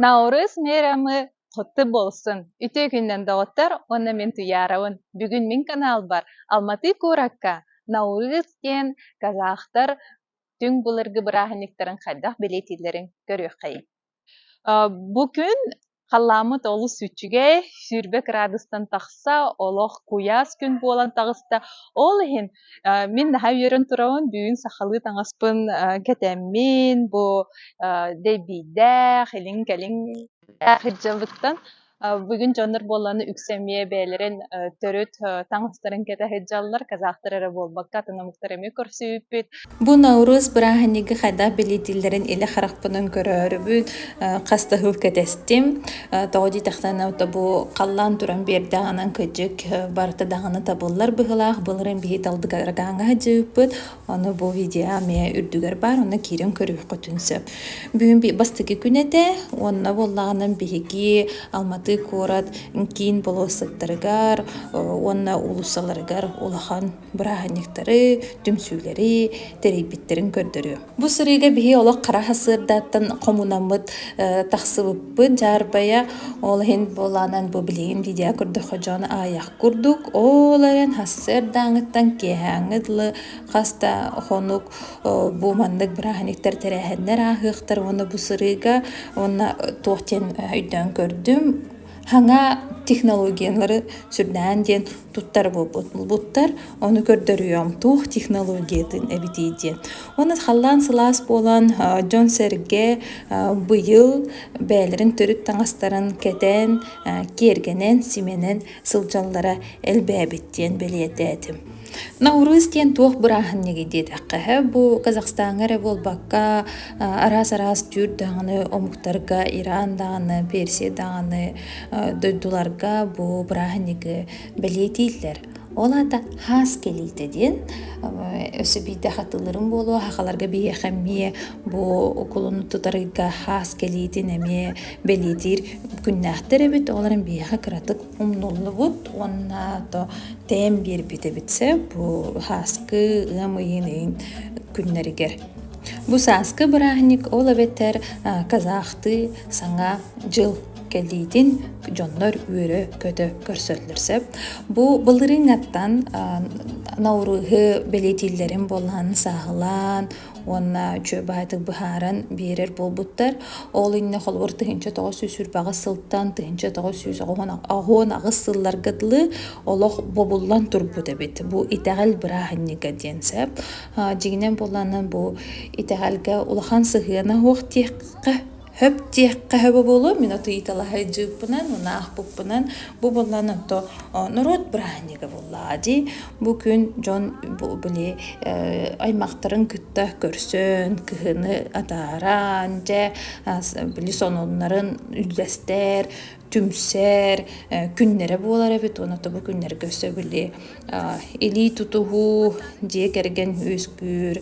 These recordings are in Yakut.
Наурыз миэрэмэ хоту буолсун. Үтүө күнүнэн, доҕоттор! Уонна мин Туяровын. Бүгүн мин каналбар Алматы куоракка Наурыз диэн казахтар түҥ былыргы бырааһынньыктарын хайдах бэлиэтииллэрин көрүөххэй. Бу күн халааммыт олус үчүгэй, сүүрбэ кыраадыстан тахса, олох куйаас күн буолан таҕыста. Ол иһин Мин наһаа үөрэн турабын, бүгүн сахалыы таҥаспын кэтэммин бу дэйбийдээх, илин-кэлин сылдьабыттан бүгүн дьоннор буоллаҕына үксэ эмиэ бэйэлэрин төрүт таҥастарын кэтэ сылдьаллар, казахтар эрэ буолбакка атын омуктар эмиэ көрсүбүппүт. Бу Наурыз бырааһынньыгы хайдах билиитиллэрин илэ харахпынан көрөөрүбүн, хас да сыл кэтэстим. Тоҕо диэтэхтэринэ, бу халлаан туран биэрдэҕинэн кырдьык барыта даҕаны табыллар быһыылаах. Былырыын биһиги талбыт арҕааҥҥа сылдьыбыппыт. Ону бу видео эмиэ үрдүгэр баар, онно киирэн көрүөххүтүн сөп. Бүгүн бастакы күн этэ. Уонна буоллаҕынан биһиги Алматы куорат киин болуоссаттарыгар уонна уулуссаларыгар улахан бырааһынньыктары, түмсүүлэри тэрийбиттэрин көрдөрүө. Бу сырыыга биһи олох хара сырдааттан хомунаммыт тахсыбыппыт дьаарбайа, ол иһин буолаанан бу билигин видео көрдөхө дьон аайах курдук, ол айан хасыырдааҥыттан киэһээҥҥыт лы хаста хонук бу маннык бырааһынньыктар тэрээһиннэр ааһыахтар уонна бу сырыыга уонна туох диэн өйдөөн көрдүм Хаҥа технологиялары сүрдээн диэн туттар буолбуттар. Ону көрдөрүөм, туох технологиятын эбитий диэн. Уонна халлаан сылаас буолан, дьон-сэргэ быйыл бэйэлэрин төрүт таҥастарын кэтэн, киэргэнэн, симэнэн сылдьаллара элбээбит диэн бэлиэтээтим. Наурыз диэн туох бырааһынньыгый диэтэххэ, бу Казахстаҥҥа эрэ буолбакка, араас-араас түүр даҕаны омуктарга, Иран даҕаны, Персия даҕаны дойдуларга бу бырааһынньыгы бэлиэтииллэр. Ол аата хаас кэлиитэ диэн өссө биирдэ хатылырым буолуо хахаларга биһиэхэ эмиэ бу укулуну тутарыйга хаас кэлиитин эмиэ бэлиэтиир күннээхтэр эбит. Олорон биһиэхэ кыратык умнуллубут уонна то тэйэн биэрбит эбитсэ бу сааскы ыам ыйын ыйын күннэригэр. Бу сааскы бырааһынньык ол эбэтэр казахтыы саҥа дьыл кэлиитин дьоннор үөрө-көтө көрсөллөр сөп. Бу былырыыҥҥаттан наурызы бэлиэтииллэрин буоллаан сааһылаан уонна үчүгэй баһаатык быһааран биэрэр буолбуттар. Ол иннэ холобур тыһынча тоҕус сүүс үрбэҕис сылтан тыһынча тоҕус сүүс оҕуон аҕыс сылларга дылы олох бобуллан турбут эбит. Бу итэҕэл бырааһынньыга диэн сөп. Дьиҥинэн буолланан бу итэҕэлгэ улахан сыһыана суох диэххэ Хөп диэххэ хөбө буолуо, мин от ыйыталаһай дьыыппынан, унаахпыппынан бу буллан ото норуот бырааһынньыга буллаа дии. Бу күн дьон били аймахтарын кытта көрсөн, кыһыны атааран, дьэ били сонуннарын үллэстэр, түмсэр күннэрэ буолар эбит. Уонна ото бу күннэргэ өссө били илии тутуһуу, дьиэ кэргэн үөскүүр,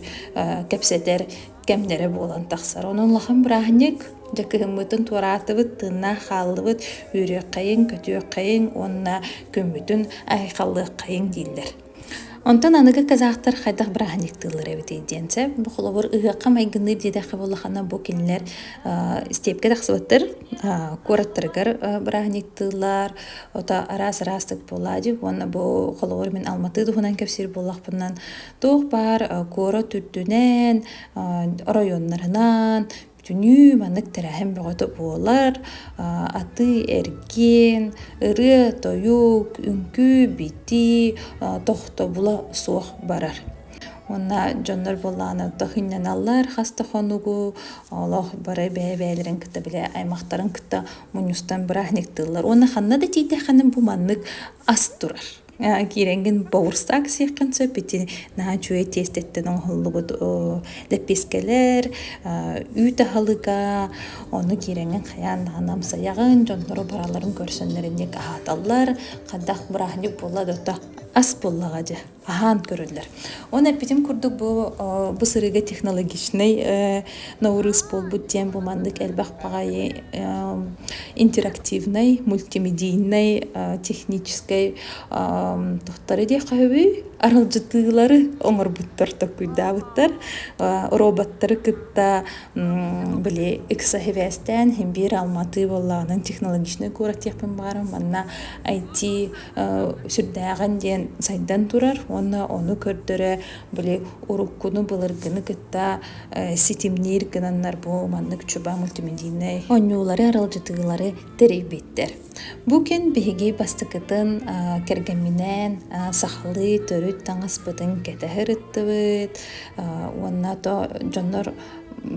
кэпсэтэр кэмнэрэ буолан тахсар. Онон улахан бырааһынньык дьэ кыһыммытын туораатыбыт, тыыннаах хааллыбыт, үөрүөххэйиҥ, көтүөххэйиҥ уонна күммүтүн айхаллыаххайыҥ дииллэр. Онтон аныгы казахтар хайдах бырааһынньыктыыллар эбитий диэн сөп. Бу холобур ыһыахха майгынныыр диэтэххэ буоллаххына бу кинилэр степке тахсыбыттар куораттарыгар бырааһынньыктыыллар ото араас араастык буолаадьы уонна бу холобур мин алматыы туһунан кэпсиир буоллахпытынан Туох баар куорат үрдүнэн, оройуоннарынан түнүү маннык тэрээһин бөҕөтө буолар. Атыы-эргиэн, ырыа-тойук, үҥкүү-битии тохтобула суох барар. Уонна дьоннор буоллаҕына өлтөх инньэналлар хас да хонугу олох бары бэйэ-бэйэлэрин кытта били аймахтарын кытта мунньустан бырааһынньыктыыллар. Уонна ханна да тиийдэххинэ бу маннык ас турар. киирэҥҥин боурстаах сиэххин сөп ити наһаа үчүгэй тиэстэттэн оҥоһуллубут лэппиэскэлэр үүт аһылыга ону киирэҥҥин хайаан даҕаны амсайаҕын дьонноро бараларын көрсөннөрөн диэки аһаталлар хайдах бырааһынньык буолла да ото ас буоллаҕа дьэ аһаан көрөллөр оны эппитим курдук бу бу сырыыга технологичнай Ноурыыс буолбут диэн бу маннык элбэх баҕайы интерактивнай, мультимедийнай, техническэй тохтары диэххэ үһү аралдьытыылары оҥорбуттар токуйдаабыттар. Роботтары кытта били ыкса сибээстээн биир Алматы буоллаҕынан технологичнай куорат диэхпин баҕарар манна IT сүрдээҕин диэн сайдан турар уонна ону көрдөрө били уруккуну былыргыны кытта ситимниир гынаннар бу маннык чуба мультимедийнай оонньуулары аралдьытыылары тэрийбиттэр. Бу күн биһиги бастакытын кэргэмминээн сахалыы төрүт таҥаспытын кэтэһэр ыттыбыт уонна то дьоннор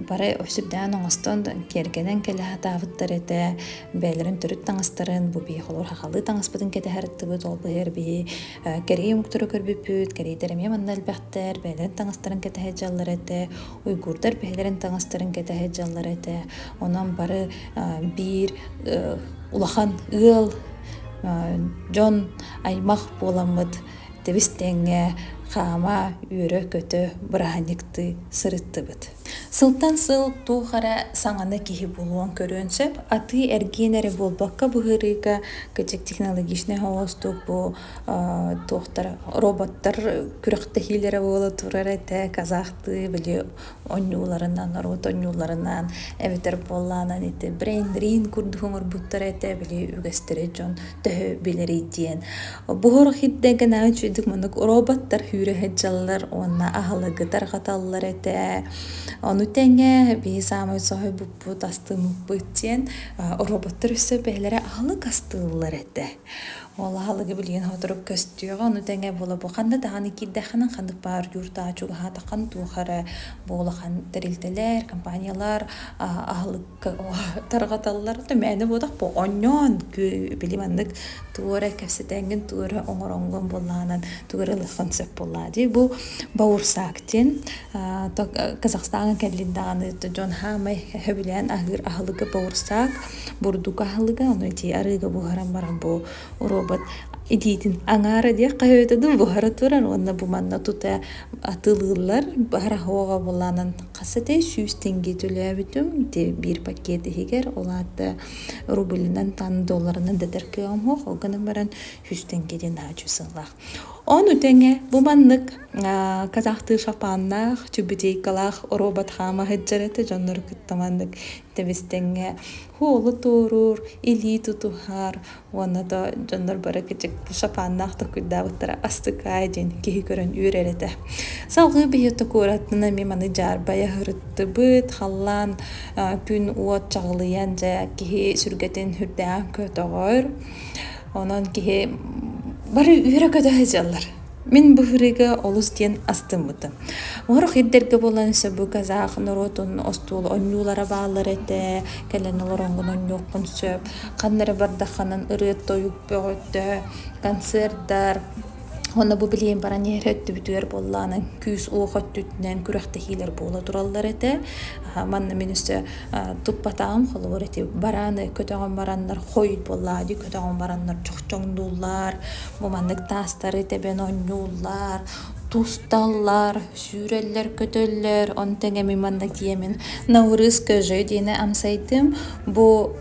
бары сүрдээн оҥостон киэргэнэн кэлэ сатаабыттар этэ бэйэлэрин төрүт таҥастарын бу биһи холобур хахалыы таҥаспытын кэтэһэр ыттыбыт ол быһыгар биһи Кэргий омуктары көрбүппүт, кэриэтэр эмиэ манна элбэхтэр, бэйэлэрин таҥастарын кэтэһэр дьаллар этэ, уйгурдар бэйэлэрин таҥастарын кэтэһэр дьаллар этэ. Онон бары биир улахан ыал, дьон аймах буоламмыт тэбис-тэҥҥэ хаама, үөрэ-көтө бырааһынньыктыы сырыттыбыт. Сылтан сыл туох эрэ саҥаны киһи булуон-көрүөн сөп. Атыы-эргиэн эрэ буолбакка быһыарыыга кычек технологичнай оҥостук бу туохтар роботтар күрэхтэһиилэрэ буола турар этэ. Казахтыы били онньууларынан, норуот онньууларынан эбэтэр буоллаҕынан ити брейн-дрейн курдук оҥорбуттара этэ. Били үгэстэрэ дьон төһө билэрий диэн. Буһурук хирдэн кэнэҕэ үчүгдүк маннык роботтар үүрүһэт дьаллар уонна аһылыгы тарҕаталлар этэ. Ону тэҥэ биһи саамай соһуйбуппут, астыммыппыт диэн роботтор өссө бэйэлэрэ аһылык астыыллар этэ. Ол аһылыгы билигин сотору көстүөҕэ. Ону тэҥэ буола бу ханна даҕаны киирдэххинэ ханнык баар дьуур-таачук аһаатаххын туох эрэ буолахан тэрилтэлэр, компаниялар аһылык тарҕаталлар да мээнэ буотах бу онньоон били маннык тугу эрэ кэпсэтэҥҥин тугу эрэ оҥороҥҥун буллаҕынан тугу эрэ ылыаххын сөп буоллаа дии бу Баурсак диэн Казахстаҥҥа кэллин даҕаны дьон хаамай хөбүлээн аһыыр аһылыга Баурсак бурдук аһылыга ону ити арыыга буһаран баран бу робот итиитин аҥаара диэх хаһыытын буһара турар уонна бу манна тута атылыыллар баһар аһыаҕа булаанан Хас этэй сүүс тенге төлөөбүтүм ити биир пакет иһигэр ол аата рублынан тан долларынан дэтэр кыаҕым суох ол гынан баран сүүс тенгеден аачу сыллаах ону тэҥэ бу маннык казахтыы шапааннаах чүбүтейкалаах робот хаама сыдьарыта дьоннору кытта маннык тэбистеҥҥэ һуолу туоруур илии тутуһар Уонна то дьоннор бары кичик шапааннаах токуйдаабыттара астыкаай диэн киһи көрөн үөрэр этэ. Салгыы биһи токуураттына ми маны дьаарбайа хырыттыбыт, халлаан күн уот чаҕылыйан дьэ киһи сүргэтин үрдээн көтөҕөр. Онон киһи бары үөрэ көтө сылдьаллар. Мин быһырыыга олус диэн астыммытым. Оһорох ирдэргэ буолан сөбү казах норуотун остуол онньуулара бааллар этэ. Кэлэн олороҥҥун онньуоххун сөп. Ханна эрэ бардаххынан ырыа-тойук бөҕөттө, концердар уонна бу билигин баран иһэр өттүбүтүгэр буоллаҕына күүс-уох өттүтүнэн күрэхтэһиилэр буола тураллар этэ. Манна мин өссө туппатаҕым холобур ити барааны көтөҕөн бараннар хойут буоллаҕа дии көтөҕөн бараннар чохчоҥнууллар. Бу маннык таастары тэбэн оонньууллар, тусталлар, сүүрэллэр-көтөллөр. Ону тэҥэ мин манна тиэмин Наурызская же диэни амсайдым. Бу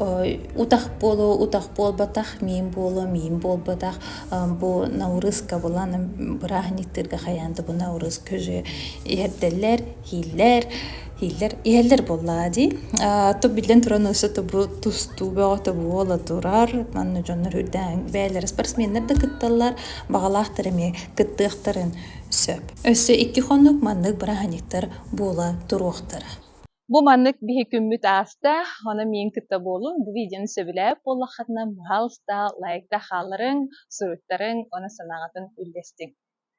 утах буолуо, утах буолбатах, миин буолуо, миин буолбатах. Бу Наурызка булан бырааһынньыктыырга хайаан да бу Наурызская же иһэрдэллэр. Иһиллэр, иһиллэр, иһэллэр буоллаа дии. А, ту биллэн туран өссө тобу тустуу бөҕө тобуола турар. Манна дьоннор үрдээн бэйэлэрэ спортсменнар да кытталлар, баҕалаахтар эмиэ кыттыахтарын сөп. Өссө икки хонук маннык бырааһынньыктар буола туруохтара. Бу маннык биһи күммүт ааста, аны миин кытта буолун. Бу видеоны сөбүлээп буоллаххытына, пожалуйста, лайкта хаалларыҥ, суруттарыҥ, уонна санааҕытын үллэстиҥ.